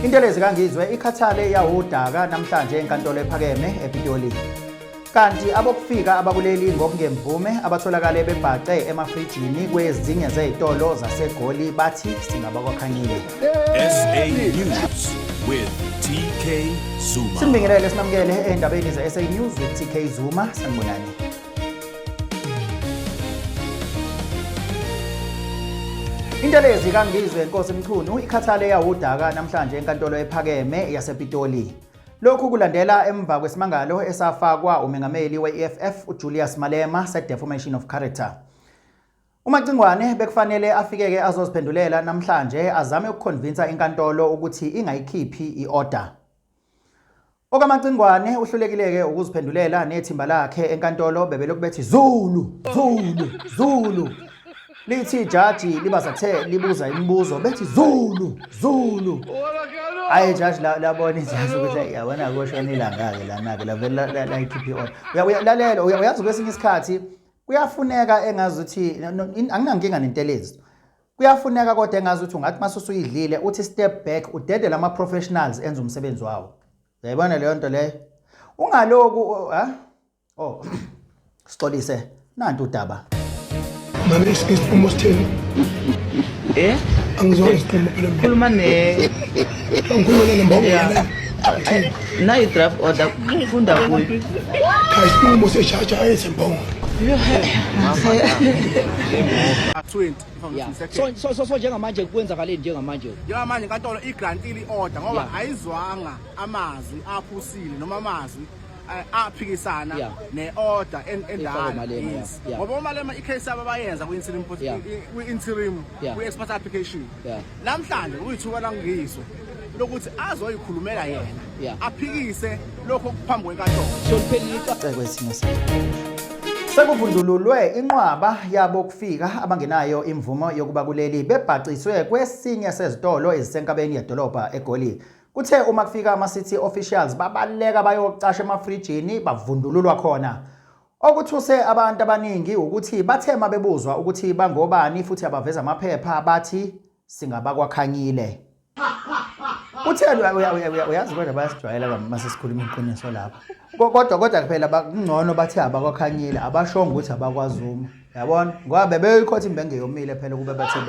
Intelezi kaNgizwe ikhathale yawudaka namhlanje enkantolo ephakeme ePitoli. Kanti abokufika abakuleli ngokungemvume abatholakale bebhace emafrijini kwezinye zezitolo zaseGoli bathi singabakwakhanyile. SA News with TK Zuma. Simbingelele sinamukele endabeni ze-SA News with TK Zuma. Sanibonani. Intelezi kaNgizwe Nkosi Mchunu ikhathale yawudaka namhlanje enkantolo ephakeme yasePitoli. Lokhu kulandela emva kwesimangalo esafakwa umengameli we-EFF uJulius Malema se-defamation of character. UMacingwane bekufanele afike-ke azoziphendulela namhlanje azame ukukhonvinsa inkantolo ukuthi ingayikhiphi i-order. OkaMacingwane uhlulekile-ke ukuziphendulela nethimba lakhe enkantolo bebelokhu bethi Zulu, Zulu, Zulu. Lithi ijaji libazathe libuza imibuzo bethi Zulu, Zulu. Hayi ijaji labona ijaji ukuthi yabona koshona ilanga-ke lana-ke lavele layikhipha i-order. Lalela uyazi kwesinye isikhathi kuyafuneka engazi ukuthi anginankinga nentelezi Kuyafuneka kodwa engazi ukuthi ungathi mase usuyidlile uthi step back udedele ama professionals enza umsebenzi wawo. Uyayibona leyo nto leyo. Ungaloku ha? Oh. Sixolise nantu udaba. Mama isiqomo sithini? Eh? Angizwa isiqomo phela. Khuluma ne. Ngikhuluma ne mbongo. Nayi draft order kunda kuyo. Cha isiqomo seshaja ayesembongo. Yeah. Yeah. So, so, so, so njengamanje kwenzakaleni njengamanje njengamanje inkantolo igrantile i-order ngoba Yeah. ayizwanga amazwi aphusile noma amazwi eh, aphikisana Yeah. ne-order en- Efaka endala uMalema, yeah. Yes. Yeah. ngoba umalema i-case yabo bayenza kwi-interim pos- Yeah. i- kwi-interim Yeah. kwi-expert application yeah Namhlanje uyithuba langizo lokuthi azoyikhulumela yena aphikise lokho kuphambi kwenkantolo. Soliphelile icala kwesimo sakhe. Sekuvundululwe inqwaba yabo kufika abangenayo imvumo yokuba kuleli bebhaciswe kwesinye sezitolo ezisenkabeni yedolobha eGoli. Kuthe uma kufika ama-city officials babaleka bayocasha emafrijini bavundululwa khona. Okuthuse abantu abaningi wukuthi bathe uma bebuzwa ukuthi bangobani futhi abaveza amaphepha bathi singabakwakhanyile. Kutheni uyazi kodwa bayasijwayela bami uma sesikhuluma iqiniso lapho. Kodwa kodwa phela kungcono bathi abakwakhanyile abashongo ukuthi abakwaZuma. Yabona? Ngoba bebeyoyikhotha imbenge yomile phela ukube bathe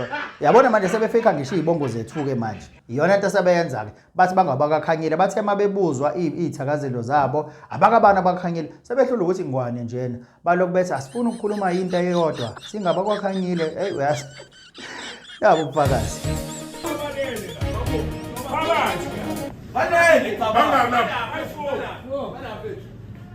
yabona manje sebefika ngisho iy'bongo zethu-ke manje. Iyona nto asebeyenza-ke. bathi bangabakakhanyile bathe uma bebuzwa iy'thakazelo zabo abakabani abakhanyile sebehlula ukuthi ngwane njena balokhu bethi asifuni ukukhuluma yinto eyodwa singabakwakhanyile eyi uyas yabo ubufakazi Banele, bangalapha.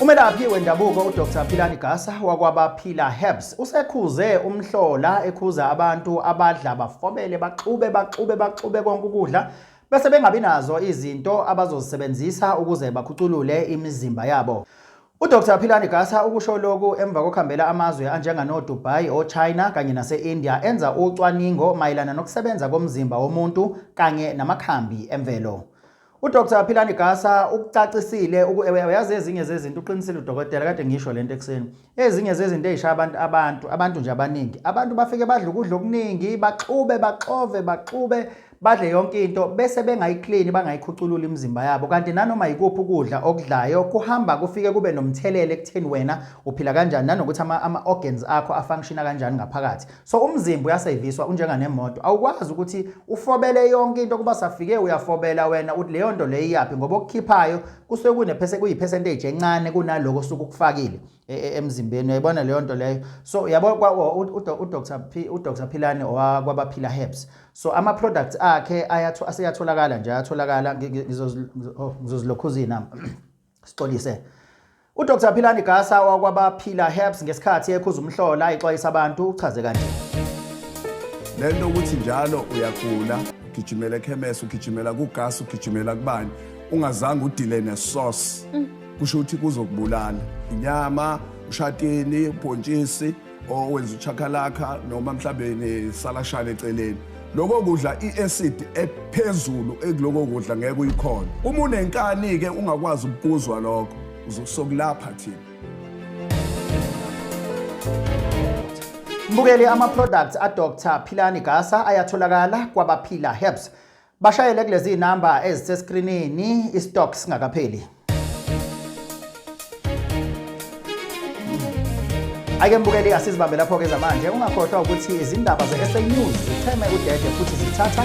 Umelaphi wendabuko uDr Philani Gasa wakwabaphila Herbs usekhuze umhlola ekhuza abantu abadla bafobele baxube baxube baxube konke ukudla bese bengabi nazo izinto abazozisebenzisa ukuze bakhuculule imizimba yabo. UDr Philani Gasa ukusho lokhu emva kokuhambela amazwe anjenganoDubai, oChina kanye nase-India enza ucwaningo mayelana nokusebenza komzimba womuntu kanye namakhambi emvelo. UDr Philani Gasa ukucacisile uyazi ezinye zezinto uqinisile udokotela kade ngisho lento ekuseni ezinye zezinto ezishaya abantu abantu abantu nje abaningi abantu bafike badle ukudla okuningi baxube baxove baxube badle yonke into bese bengayiklini bangayikhuculula imizimba yabo kanti nanoma yikuphi ukudla okudlayo kuhamba kufike kube nomthelelo ekutheni wena uphila kanjani nanokuthi ama-organs akho afunctiona kanjani ngaphakathi So umzimba uyaseviswa unjenga nemoto awukwazi ukuthi ufobele yonke into kuba safike uyafobela wena uthi leyo nto leyo iyaphi ngoba okukhiphayo kusuke kunephese kuyipercentage encane kunaloko suku kufakile e, e, emzimbeni uyayibona leyo nto leyo so yabo uDr P uDr Philani owakwabaphila herbs so ama products akhe ayathu aseyatholakala nje ayatholakala ngizozilokhuza inamba Sixolise. UDr Philani Gasa wakwabaphila Herbs ngesikhathi ekhuza umhlola exwayisa abantu uchaze kanje. Le nto ukuthi njalo uyagula ugijimela ekhemesi ugijimela kugasa ugijimela kubani ungazange udile nesource kusho ukuthi kuzokubulala inyama ushatini ubhontshisi owenza uchakalaka noma mhlawumbe nesalashana eceleni lokho kudla i-acid ephezulu ekuloko kudla ngeke uyikhona uma unenkani-ke ungakwazi ukukuzwa lokho uzosokulapha thina mbukeli ama-products adr philani gasa ayatholakala kwabaphila herbs Bashayele kulezi number ezisescreenini istock singakapheli. Ake mbukeli asizibambe lapho ke zamanje ungakhohlwa ukuthi izindaba zeSA News zitheme udede futhi zithatha